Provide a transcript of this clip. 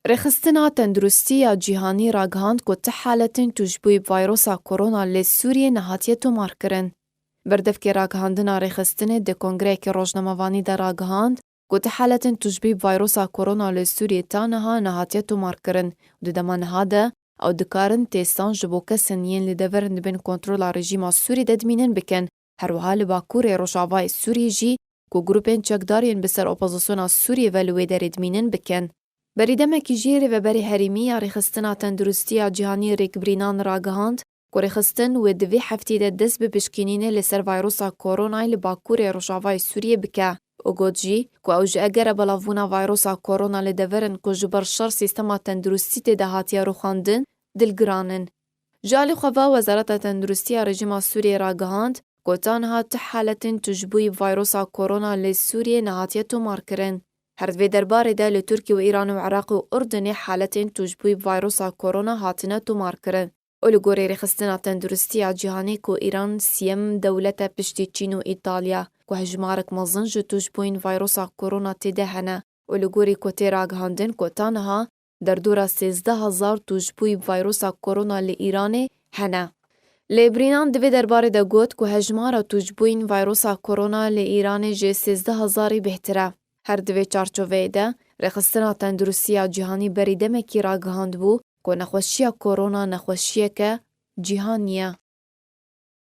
Rêxistina Tenduristî ya Cîhanî ragihand ku ti haletên tûjbûyî bi vayrosa Korona lê Sûriyê nehatiye tomarkirin. Berdevkê ragihandina rêxistinê di kongreyekî rojnamevanî de ragihand ku ti haletên tûjbûyî bi vayrosa Korona lê Sûriyê ta niha nehatiye tomarkirin û di dema niha de ew dikarin têstan ji bo kesên yên li devir dibên kontrola rejîma Sûrî de dimînin bikin. Herwiha li bakurê rojavayê Sûriyê jî ku grûpên çekdar yên bi ser opozisyona Sûriyê ve li wê derê dimînin bikin. Berî demekî jî Rêveberê Herêmî ya Rêxistiina Tendirustiya Cîhanî Rêkbirînan ragihand ku rêxistin wê di vê hefteyê de dest bi pişkînînê li ser vayrosa koronayê li bakurê rojavayê Sûriyê bike û got jî ku ew ji egera belavbûna vayrosa korona li deverên ku ji ber şer sîstema tendirustî tê de hatiye rûxandin dilgiran in. Ji alî xwe ve Wezareta Tenduristiya Rejîma Sûriyeyê ragihand, ku ta niha tu haletên tujbûyî vayrosa Korona li Sûriyeyê nehatiye tomarkirin. Her di vê derbarê de li Tirkiye û Îranê û Iraqê û Urdinê haletên tujbûyî vayrosa Korona hatine tomarkirin û li gorî Rêxistina Tenduristiya Cîhanê ku Îran sîyem dewlet e piştî Çîn û Îtalya ku hejmarek mezin ji tujbûyîn vayrosa Korona tê de hene û li gorî ku tê ragihandin ku ta niha derdora sêzdeh hezar tûjbûyî vayrosa korona li Îranê hene. Lê Brînan di vê derbarê de got ku hejmara tûjbûyîn vayrosa korona li Îranê ji sêzdeh hezarî bêhtir e. Her di vê çarçoveyê de, Rêxistina Tenduristî ya Cîhanî berî demekî ragihandbû ku nexweşiya korona nexweşiyeke cîhanî ye.